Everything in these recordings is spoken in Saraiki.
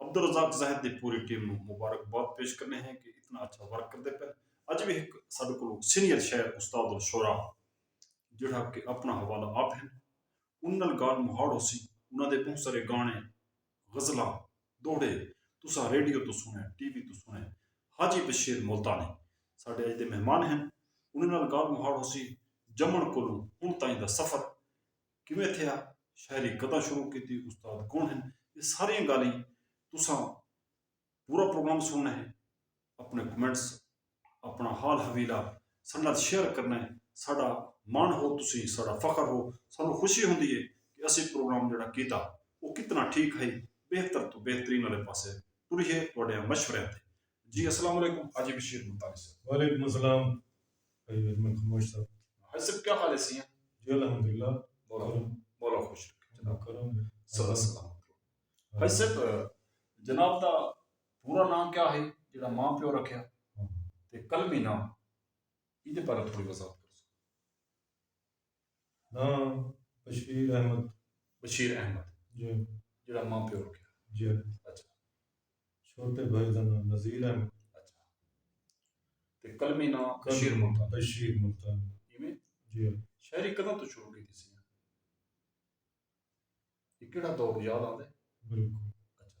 عبدالرزاق زاہد دی پوری ٹیم نوں مبارکباد پیش کرنے ہیں کہ اتنا اچھا ورک کردے پے اج وی ہک ساڈے کولوں سینئر شاعر استاد الشعراء جیڑھا کہ اپنا حوالہ آپ ہیں انہاں نال گالھ مہاڑ ہوسی انہاں دے بہوں سارے گانے غزلاں دوہڑے تساں ریڈیو توں سنے ٹی وی توں سنے حاجی بشیر ملتانی ساڈے اج دے مہمان ہیں انہاں نال گالھ مہاڑ ہوسی جمن کولوں ہن تائیں دا سفر کیویں تھیا، شاعری کداں شروع کیتی، استاد کون ہن، اے ساریاں گالھیں تساں پورا پروگرام سنڑنا ہے، اپنڑے کمنٹس، اپنڑا حال حویلا ساڈے نال شیئر کرنا ہے، ساڈا مان ہو تسیں، ساڈا فخر ہو، سانوں خوشی ہوندی ہے کہ اسیں پروگرام جیہڑا کیتا او کتنا ٹھیک ہئی، بہتر توں بہترین آلے پاسے ٹریے تہاڈیاں مشوریاں تے۔ جی اسلام علیکم حاجی بشیر ملتانی صاحب۔ وعلیکم السلام۔ بھائی اجمل خموش صاحب۔ بھائی صاحب کیا حال ہے سیاں۔ جی الحمد اللہ مولا خوش رکھے جناب کرم سدا سلامت رہو بھائی صاحب جناب دا پورا نام کیا ہے جڑا ماں پیو رکھیا تے قلمی نام ایدے بارے تھوڑی وضاحت ہاں بشیر احمد بشیر احمد جی جڑا ماں پیو رکھیا جی اچھا چھوٹے بھائی دا نام نذیر احمد اچھا تے کلمی نام بشیر ملتان بشیر ملتان ایویں جی شاعری کداں تو شروع کی تھی سی یہ کیڑا دور یاد آندے بالکل اچھا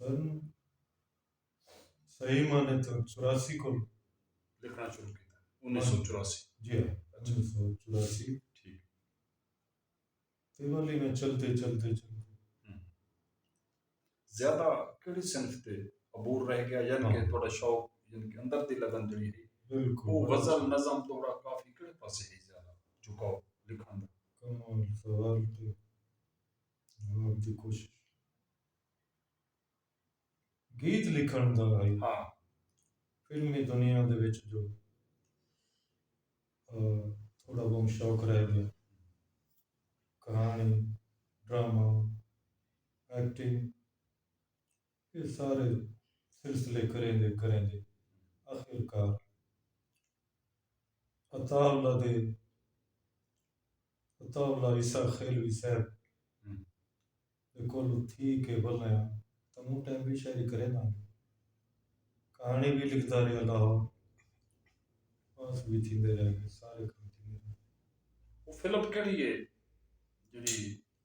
سن صحیح معنی تو چوراسی کو لکھنا شروع کیا انیس سو چوراسی جی ہاں انیس سو چوراسی ٹھیک دیوالی میں چلتے چلتے چلتے زیادہ کیڑی صنف تے عبور رہ گیا یعنی کہ تھوڑا شوق یعنی کہ اندر دی لگن جڑی ہے بالکل وہ غزل نظم تھوڑا کافی کیڑے پاسے ہے زیادہ جھکاؤ لکھن دا کمال سوال تے آپ دی کوشش گیت لکھن دا ہائی ہاں فلمی دنیا دے وچ جو تھوڑا بہت شوق رہ گیا کہانی ڈرامہ ایکٹنگ ایہ سارے سلسلے کریندے کریندے آخر کار عطاءاللہ دے عطاءاللہ عیسی خیلوی صاحب دے کولوں تھی کے ولنیاں تاں موں ٹائم وی شاعری کرینداں گے کہاݨی وی لکھدا رہیا لاہور پاس وی تھیندے رہ گے سارے کم تھیندے رہ گے۔ او فلم کیڑھی ہے جیڑھی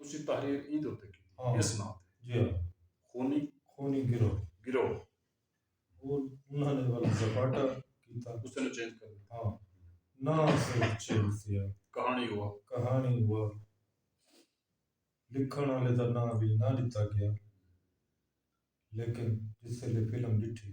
تسی تحریر ایں دے اتے کیتی ہاں۔ اس ناں تے جی ہاں خونی خونی گروہ گروہ او انہاں نے ول زپاٹا کیتا اس نے چینج کر دتا ہاں ناں صرف چینج تھیا کہانی ہوا کہانی ہوا لکھن والے دا ناں وی نہ ڈتا گیا لیکن جس ویلے فلم ڈٹھی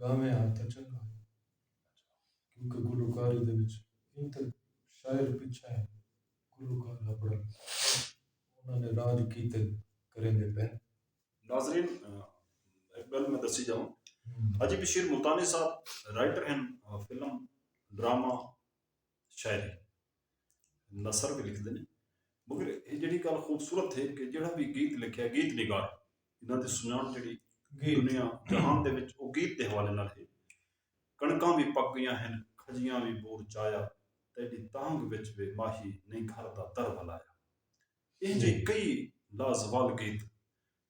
گاویں ہا تاں چنگا ہئی کیونکہ گلوکاری دے وچ ایں تے شاعر پچھے ہن گلوکار ہبڑن انہاں نے راج کیتے کریندے پئن۔ ناظرین ہک گل میں دسی جاواں حاجی بشیر ملتانی صاحب رائٹر ہن فلم ڈرامہ شاعر نثر بھی لکھتے ہیں مگر یہ جڑی گل خوبصورت ہے کہ جڑا بھی گیت لکھیا گیت نگار انہوں کی سنان جڑی دنیا جہان دے وچ وہ گیت کے حوالے نال ہے کنکاں بھی پک گئی ہیں کھجیاں بھی بور چایا تیری تانگ وچ بے ماہی نہیں گھر دا در بلایا یہ جی کئی لازوال گیت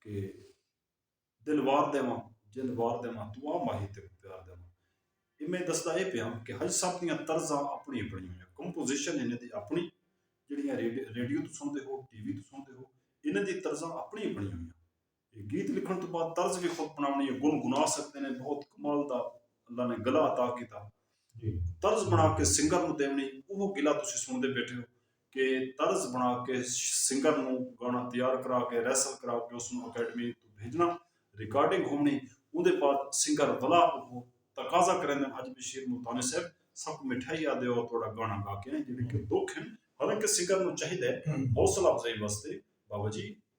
کہ دل وار ݙیواں جند وار ݙیواں توں آ ماہی تیکوں پیار ݙیواں اے میں ݙسدا اے پیاں کہ حج صاحب دیاں طرزاں اپݨی اپݨی ہوئیاں کمپوزیشن انہاں دی اپݨی جیڑھیاں ریڈیو توں سݨدے ہو ٹی وی توں سݨدے ہو انہاں دی طرزاں اپݨی اپݨی ہوئیاں اے گیت لکھݨ توں بعد طرز وی خود بݨاوݨی اے گن گنا سڳدے نے بہت کمال دا اللہ نے گلا عطا کیتا طرز بݨا کے سنگر نوں ݙیوݨی اوہو گلا تسی سݨدے ٻیٹھے ہو کے طرز بݨا کے سنگر نوں گانا تیار کرا کے ریسل کرا کے اس نوں اکیڈمی توں بھیجنا ریکارڈنگ ہوونی اوندے بعد سنگر ولا اوہو تقاضا کریندن اج بشیر ملتانی صاحب ساکوں مٹھائی آ دیو تہاڈا گانا گا کے آئیں جیڑھے کے دکھ ہن حالانکہ سنگر نوں چاہیدے حوصلہ افزائی واسطے بابا جی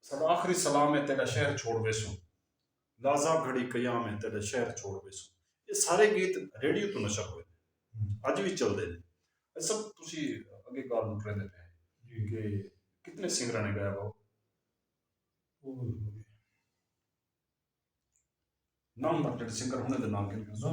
ساڈا آخری سلام ہے تیڈا شہر چھوڑ ویسوں لازا گھڑی قیام ہے تیڈا شہر چھوڑ ویسوں یہ سارے گیت ریڈیو تو نشر ہوئے نے اج وی چلدے نے اے سب تسی اگے گال نو کریندے پے ہیں کہ کتنے سنگراں نے گایا باو نام جڑے سنگر ہونے دے نام گن گن سو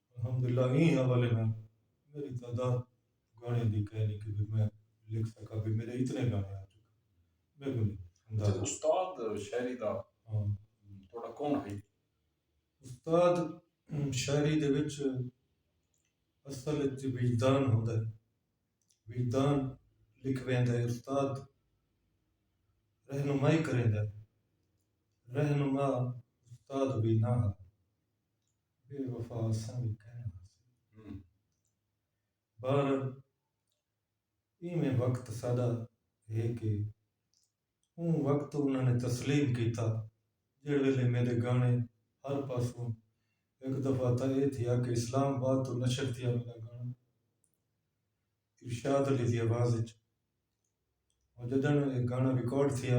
الحمداللہ ایں حوالے نال میݙی تعداد گاݨیاں دی کائنی کہ بھئی میں لکھ سکاں بھئی میݙے اتنے گاݨے آ چکے میکوں نی اندازہ۔ اچھا استاد شاعری دا تہاݙا کون ہئی؟ استاد شاعری دے وچ اصل اچ وجدان ہوندا ہے وجدان لکھ ویندا ہے استاد رہنمائی کریندا ہے رہنما استاد وی نہ ہا۔ بے وفا اساں وی کائناں ہاسی۔ بہرحال ایویں وقت ساڈا ہے کہ اوں وقت انہاں نے تسلیم کیتا جیہڑے ویلے میڈے گانے ہر پاسوں ہک دفعہ تاں ایہ تھیا کہ اسلام آباد توں نشر تھیا میڈا گانا ارشاد علی دی آواز اچ۔ ہن جڈن ایہ گانا ریکارڈ تھیا۔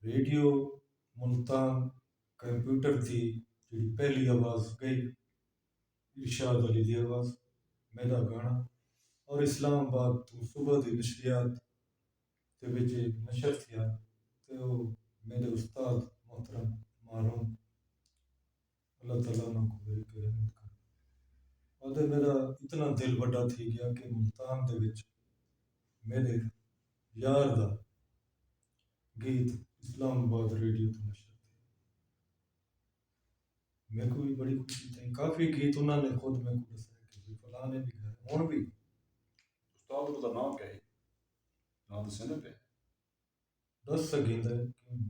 ریڈیو ملتان کمپیوٹر تے جیڑھی پہلی آواز گئی ارشاد علی دی آواز میرا گانا اور اسلام آباد توں صبح دی نشریات دے وچ اے نشر تھیا تے او میڈے استاد محترم ماروم اللہ تعالی انہاں کوں مل کے رحمت کرے۔ آدھے میݙا اتنا دل وݙا تھی ڳیا کہ ملتان دے وچ میݙے یار دا گیت اسلام آباد ریڈیو تے نشر تھیا۔ میکوں وی بڑی خوشی تھئی۔ کافی گیت انہاں نے خود میکوں ݙسائے کہ بھئی فلاں نے وی ڳائے ہݨ وی۔ استاد انہاں دا ناں کیا ہئی؟ ناں ݙسیندے پئے۔ ݙس سڳیندے کیوں نی۔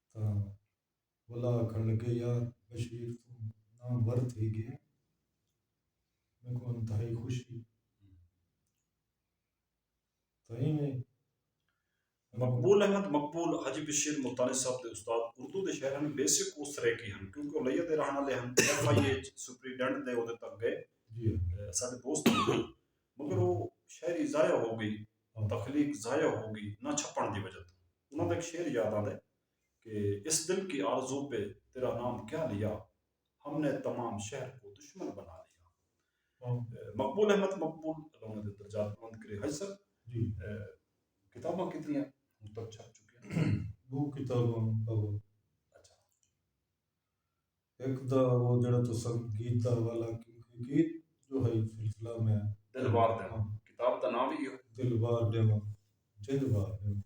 تاں ولا آکھݨ لڳے یار بشیر توں نام ور تھی ڳئیں میکوں انتہائی خوشی تاں ایویں مقبول احمد مقبول حاجی بشیر ملتانی صاحب دے استاد اردو دے شہر ہن بیسک او سریکی ہن کیونکہ او لیا دے رہن والے ہن ایف آئی اے سپریڈنٹ دے عہدے تک گئے جی ساڈے دوست مگر او شاعری ضائع ہو گئی اوں تخلیق ضائع ہو گی نہ چھپݨ دی وجہ توں انہاں دا ہک شعر یاد آندے کہ اس دل کی آرزو پہ تیرا نام کیا لیا ہم نے تمام شہر کو دشمن بنا لیا مقبول احمد مقبول اللہ انہاں دے درجات بلند کرے حاجی صاحب جی کتاباں کتنیاں ہن تک چھپ چکیاں دو کتاباں اچھا ہک دا او جیڑھا تساں گیت دا حوالہ گیت جو ہئی سلسلہ میں دل وار ݙیواں کتاب دا ناں وی ایہو دل وار ݙیواں جند وار ݙیواں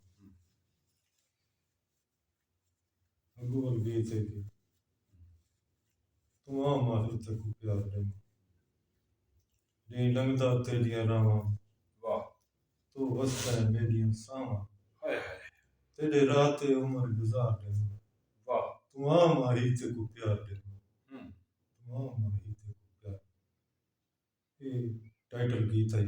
اگو ول گیت ہے کہ توں آ ماہر تے کو پیار ݙیواں نئیں لنگھدا تیڈیاں راہواں واہ توں وسدا ہے میڈیاں ساہواں ہائے ہائے تیڈے راہ تے عمر گزار ڈیواں واہ توں آ ماہی تیکوں پیار ڈیواں ہوں توں آ ماہی تیکوں پیار ڈیواں اے ٹائٹل گیت ہئی۔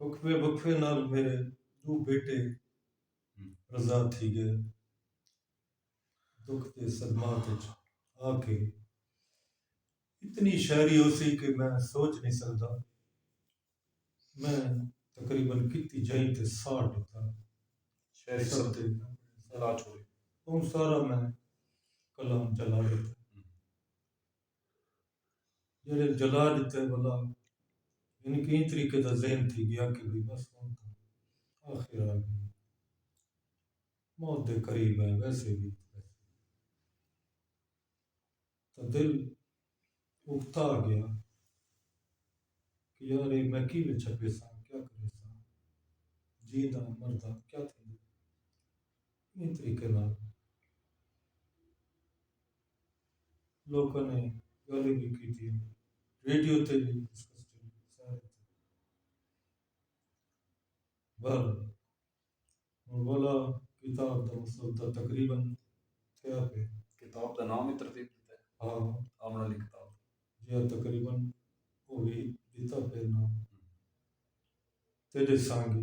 وقفے وقفے نال میݙے ݙو بیٹے رضا تھی ڳئے دکھ دے صدمات وچ آ کے اتنی شاعری ہوسی کہ میں سوچ نہیں سکدا میں تقریباً کتی جائیں تے ساڑ ڈتا شاعری سب تے سارا چھوڑی اون سارا میں کلام چلا ڈتا جیڑھے جلا ݙتے ولا یعنی کہ ایں طریقے دا ذہن تھی گیا کہ بھئی بس ہن تاں آخر آ گئی موت دے قریب ہیں ویسے بھی تو دل اکتا گیا کہ یار یہ میں کی میں چھپے سا کیا کرے سا جی دا مردہ کیا تھی ایں طریقے نال لوکاں نے گالھیں وی کیتیاں۔ ریڈیو تے وی ڈسکسٹنگ سارے تھے۔ بہرحال ہن ولا کتاب دا مسودہ تقریبا تھیا پئے۔ کتاب دا ناں وی ترتیب ݙتا ہے۔ ہاں۔ آوݨ آلی کتاب دا۔ جیہڑا تقریبا او وی ݙتا پئے ناں۔ تیݙے سانگے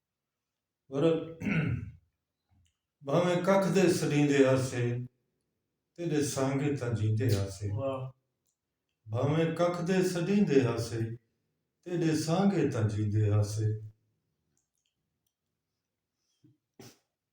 ورل بھاویں ککھ دے سڈیندے ہاسے تیڈے سانگے تاں جیندے ہاسے بھاویں ککھ دے سڈیندے ہاسے تیڈے سانگے تاں جیندے ہاسے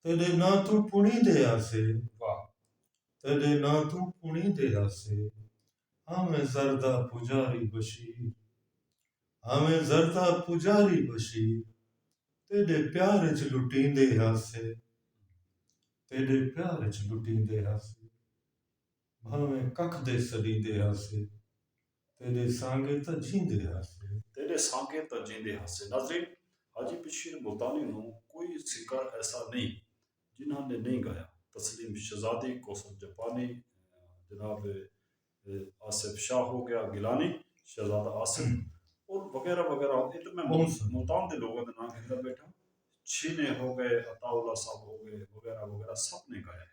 تیݙے ناں توں پݨیندے ہاسے واہ تیݙے ناں توں پݨیندے ہاسے ہاویں زردہ پجاری بشیر ہاویں زردہ پجاری بشیر تیݙے پیار اچ لٹیندے ہاسے تیݙے پیار اچ لٹیندے ہاسے بھانویں ککھ دے سݙیندے ہاسے تیݙے سانگے تاں جیندے ہاسے۔ تیݙے سانگے تاں جیندے ہاسے۔ ناظرین! حاجی بشیر ملتانی نوں کوئی سنگر ایسا نئیں جنہاں نے نئیں گایا۔ تسلیم شہزادی، کوثر جاپانی، جناب آصف شاہ ہو گیا گیلانی، شہزادہ آصف اور وغیرہ وغیرہ اے تاں میں ملتان دے لوگاں دے ناں گھندا بیٹھاں۔ چھینے ہو گئے، عطاء اللہ صاحب ہو گئے وغیرہ وغیرہ سب نے گایا ہے۔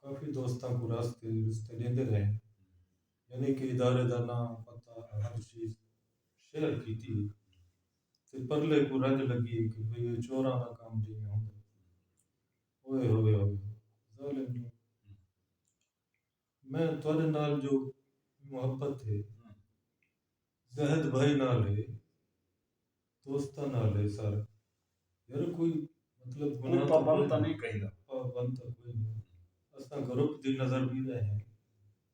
کافی دوستاں کوں راستے رستے ݙیندے رہے ہن۔ یعنی کہ ادارے دا ناں، پتہ، ہر چیز شیئر کیتی ہئی تے پرلے کوں رنج لڳی ہئی کہ بھئی ایہ چوراں دا کم جیویں ہوندا ہے۔ اوئے ہوئے ہوئے ہوئے ظالم جو میں تہاݙے نال جو محبت ہے۔ زاہد بھائی نال ہے دوستاں نال ہے سر یار کوئی مطلب گناہ تاں کوئی نہیں پابند تاں کوئی نہیں اساں گروپ دی نظر بھی رہے ہیں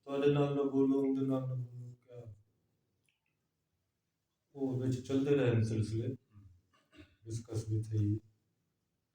تہاڈے نال نہ بولو اوندے نال نہ بولو کیا او وچ چلدے رہے سلسلے ڈسکس بھی تھئی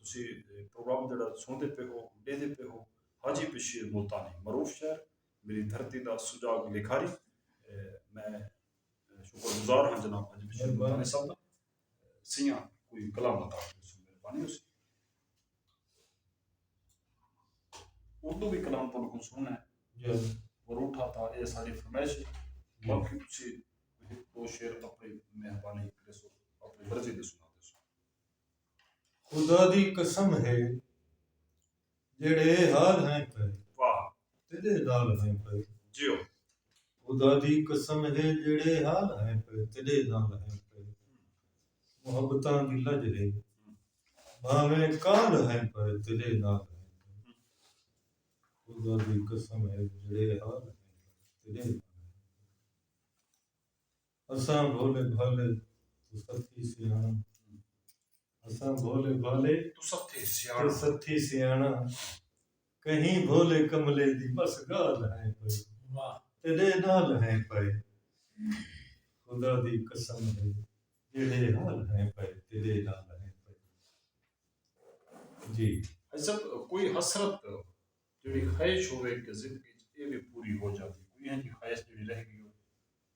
تسی پروگرام جیڑھا سݨدے پئے ہو، ݙیہدے پئے ہو، حاجی بشیر ملتانی، معروف شاعر، میݙی دھرتی دا سجاڳ لکھاری۔ میں شکر گزار ہاں جناب حاجی بشیر ملتانی صاحب دا۔ سیاں کوئی کلام عطا کریسوں، مہربانی ہوسی۔ اردو وی کلام تہاݙے کوں سݨݨا ہے۔ وروٹھا تاں ایہ اساݙی فرمائش ہے۔ باقی تسی ہک ݙو شعر اپݨی مہربانی کریسو، اپݨی مرضی دے سݨا دیسو۔ خدا دی قسم ہے جیڑھے اے حال ہیں پئے واہ تیڈے نال ہیں پئے جیو خدا دی قسم ہے جیڑھے حال ہیں پئے تیڈے نال ہیں پئے محبتاں دی لج ہے بھاویں کال ہیں پئے تیڈے نال ہیں پئے خدا دی قسم ہے جیڑھے حال ہیں پئے تیڈے نال اساں بھولے بھالے تو ستھی سیاݨاں اساں بھولے بھالے تو ستھی سیاݨاں کہیں بھولے کملے دی بس ڳالھ ہیں پئی تیݙے نال ہیں پئے خدا دی قسم ہے جیڑھے حال ہیں پئے تیݙے نال ہیں پئے جی بھائی صاحب کوئی حسرت جیڑھی خواہش ہوے کہ زندگی اچ اے وی پوری ہو جاندی کوئی ہیں جی خواہش جیڑھی رہ گئی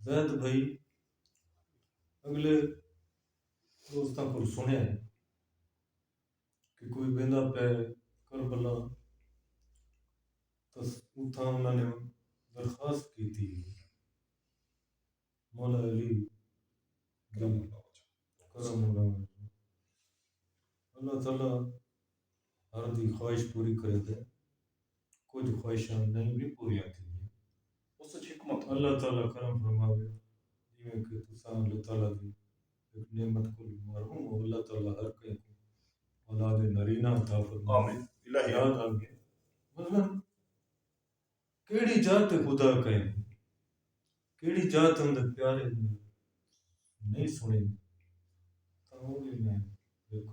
زید بھائی اگلے دوستاں کول سنیا ہے کہ کوئی ویندا پے کربلا تس اتھاں انہاں نے درخواست کیتی ہے مولا علی کرم اللہ تعالی ہر دی خواہش پوری کریندے کجھ خواہشاں نئیں وی پوریاں تھیندیاں۔ اس اچ حکمت ہوندی۔ اللہ تعالی کرم فرماوے جیویں کہ تساں اللہ تعالی دی ہک نعمت کوں بھی محروم ہو اللہ تعالی ہر کہیں کوں اولاد نرینہ عطا فرماوے یاد آگئے مثلا کیڑی جاہ تے خدا کئے نیں کیڑی جاہ تے اوندے پیارے نیں نئیں سنڑیندے تاں او وی میں ویکھو۔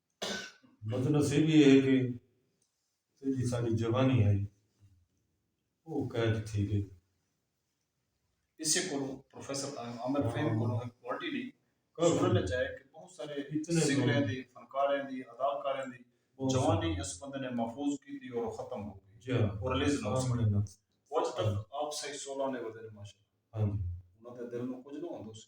بدنصیبی اے ہے کہ جیڑھی ساڈی جوانی ہئی او قید تھی گئی۔ اسے کولوں پروفیسر آ م عامر فہیم کولوں ہک کوالٹی نی سنڑن اچ آئے کہ بہت سارے سنگریں دی، فنکاریں دی، اداکاریں دی جوانی اس بندے نے محفوظ کیتی اور او ختم ہو گئی او ریلیز نہ ہو سکی۔ او اج تک آپ سہی سولاں دے ودے نے ماشاءاللہ انہاں دے دل نو کجھ نہ ہوندو سی۔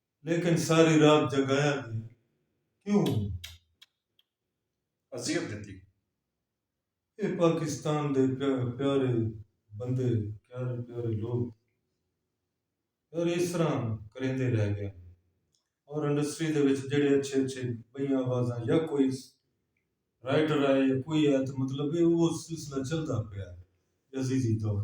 لیکن ساری رات جگایا گیا کیوں ہوں اذیت دیتی اے پاکستان دے پیارے بندے پیارے پیارے لوگ اور اس طرح کریندے رہ گئے اور انڈسٹری دے وچ جڑے اچھے اچھے بئی آوازاں یا کوئی رائٹر آئے یا کوئی آئے تو مطلب ہے وہ سلسلہ چلتا پیا عزیزی دور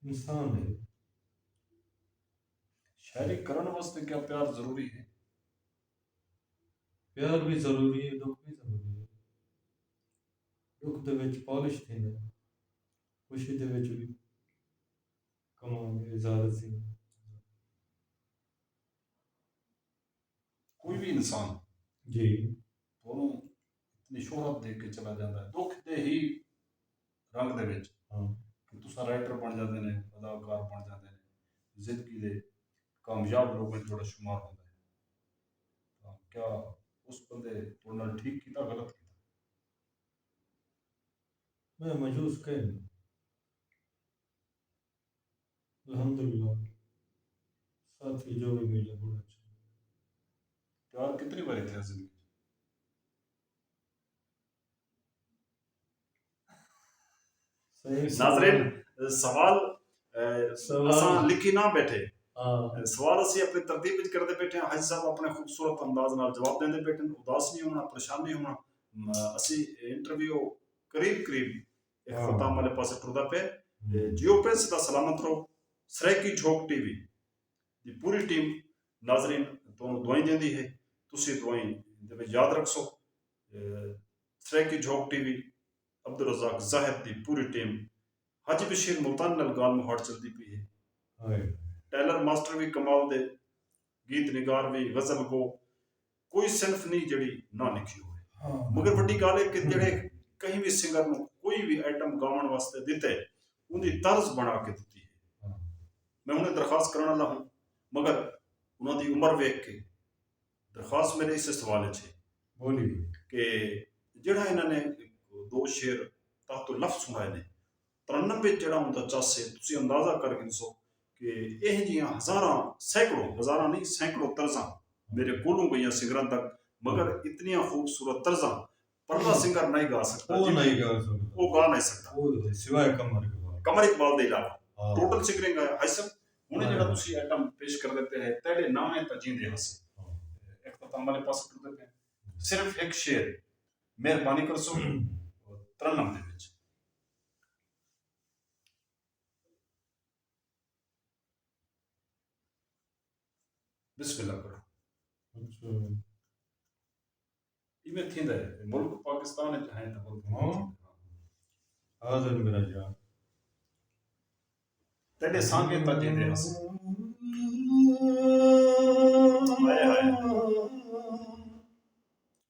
انسان ہے۔ شاعری کرݨ واسطے کیا پیار ضروری ہے؟ پیار وی ضروری ہے ݙکھ وی ضروری ہے۔ ݙکھ دے وچ پالش تھیندا ہے۔ خوشی دے وچ وی کمال ہے اظہار عظیم۔ کوئی بھی انسان جی تھوڑوں اتنی شہرت دے کے چلا جاتا ہے دکھ دے ہی رنگ دے وچ ہاں۔ کہ تسا رائٹر بن جاتے ہیں اداکار بن جاتے ہیں زندگی دے کامیاب لوگوں میں تھوڑا شمار ہوتا ہے تو کیا اس بندے تھوڑا ٹھیک کیتا غلط کیتا میں مجوز کہیں الحمداللہ ساتھی جو وی ملے بڑا اچھا لگے پیار کتنی واری تھیا زندگی ناظرین سوال سوال لکھی نہ بیٹھے ہاں۔ سوال اسی اپنی ترتیب وچ کردے بیٹھے ہیں حج صاحب اپنے خوبصورت انداز نال جواب دیندے بیٹھے ہیں اداس نہیں ہونا پریشان نہیں ہونا اسی انٹرویو قریب قریب اختتام آلے پاسے ٹردا پئے جیو پرنس دا سلامت رہو سرائیکی جھوک ٹی وی دی پوری ٹیم ناظرین تہانوں دعائیں دیندی ہے تسی دعائیں دے وچ یاد رکھسو سرائیکی جھوک ٹی وی عبدالرزاق زاہد دی پوری ٹیم حاجی بشیر ملتانی نال گالھ مہاڑ چلدی پئی ہے ٹیلر ماسٹر وی کمال دے گیت نگار وی غزل گو کوئی صنف نی جیڑھی نہ لکھی ہووے مگر وڈی گالھ اے کہ جیڑھے کہیں وی سنگر نوں کوئی وی آئٹم گاوݨ واسطے ݙتے اوندی طرز بݨا کے ݙتی اے میں ہݨے درخواست کرݨ آلا ہوں مگر انہاں دی عمر ویکھ کے درخواست میݙے اسے سوال اچ اے بولی کہ جیڑھا انہاں نے دو شعر تحت لفظ سݨائے نے ترنم وچ جیڑھا اوندا چس ہے تسی اندازہ کر گھنسو کہ ایہہ جیاں ہزاراں سینکڑوں ہزاراں نئیں سینکڑوں طرزاں میڈے کولوں گئیاں سنگراں تک مگر اتنیاں خوبصورت طرزاں پرلا سنگر نئیں گا سگدا جی میں اوہ گا نئیں سگدا قمر اقبال دے علاوہ ٹوٹل سنگریں گایا ہائسن ہنڑ جیڑھا تسی ایٹم پیش کردے پئے ہے تیڈے ناویں تاں جیندے ہاسے اختتام والے پاسے ٹردے پئے ہیں صرف ہک شعر مہربانی کرسو ترنم دے وچ۔ بسم اللہ کرو اچھا ایویں تھیندا ہے ملک پاکستان وچ ہیں تاں ملک ہاں حاضر میرا جان تیرے سانگے تاں جے دے ہس ہائے ہائے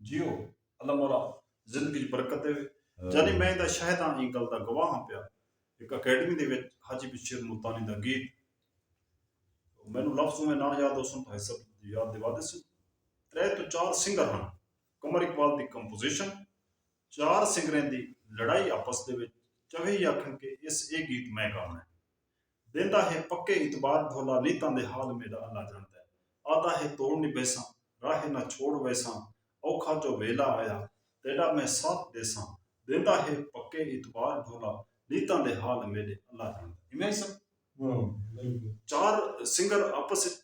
جیو اللہ مولا زندگی اچ برکت ڈیوے جانی میں ایندا شاہد ہاں ایں گل دا گواہ ہاں پیا ہک اکیڈمی دے وچ حاجی بشیر ملتانی دا گیت مینوں لفظ اوویں نہ یاد ہوسن بھائی صاحب یاد دیوا دیسن ترے تو چار سنگر ہن قمر اقبال دی کمپوزیشن چار سنگریں دی لڑائی آپس دے وچ چوہے ہی آکھن کہ اس اے گیت میں گاونا ہے دیندا ہے پکے اعتبار بھولا نیتاں دے حال میڈا اللہ جاندا ہے آہدا ہے توڑ نبھیساں راہ نہ چھوڑ ویساں اوکھا جو ویلا آیا تیڈا میں ساتھ ڈیساں دیندا ہے پکے اعتبار بھولا نیتاں دے حال میڈے اللہ جاندا ہے ایویں ہی سن چار سنگر آپس اچ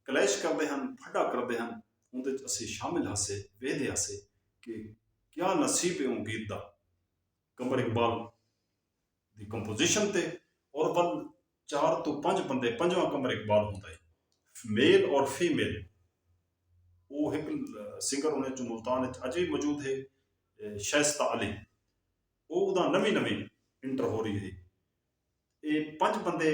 کلیش کردے ہن پھڈا کردے ہن اوندے اچ اسیں شامل ہاسے ویہدے ہاسے کہ کیا نصیب ہے اوں گیت دا قمر اقبال دی کمپوزیشن تے عربن چار توں پنج بندے پنجواں کمر اقبال ہوندا ہے میل اور فیمیل او ہک سنگر انہیں چوں ملتان اچ اج بھی موجود ہے شائستہ علی او دا نویں نویں انٹر ہو رہی ہے اے پنج بندے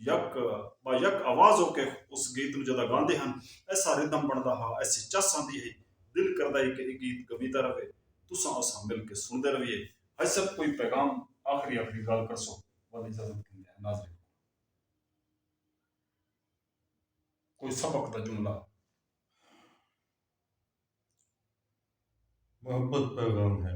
یک با یک آواز ہو کے اس گیت نوں جدا گاندے ہن ایسا ردھم بنڑدا ہا ایسی چس آندی ہئی دل کردا ہئی کہ اے گیت گویدا رہوے تساں اساں مل کے سنڑدے رہویے۔ ہائی سب کوئی پیغام آخری آخری گالھ کرسو ول اجازت گھندے ہیں ناظرین کولوں کوئی سبق دا جملہ۔ محبت پیغام ہے۔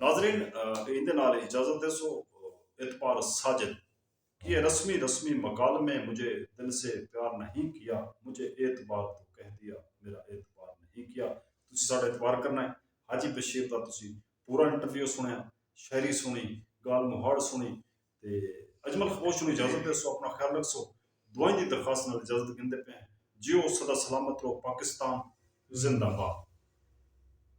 ناظرین ایندے نال اجازت دیسو اعتبار ساجد کی اے رسمی رسمی مکالمے مجھے دل سے پیار نہیں کیا مجھے اعتبار تو کہہ دیا میرا اعتبار نہیں کیا تسی ساڈا اعتبار کرنا ہے حاجی بشیر دا تسی پورا انٹرویو سنیا شاعری سنی گال مہاڑ سنی تے اجمل خموش نو اجازت دیسو اپنا خیال رکھسو دعائیں دی درخواست نال اجازت گھندے پئے ہیں جیو سدا سلامت رہو پاکستان زندہ باد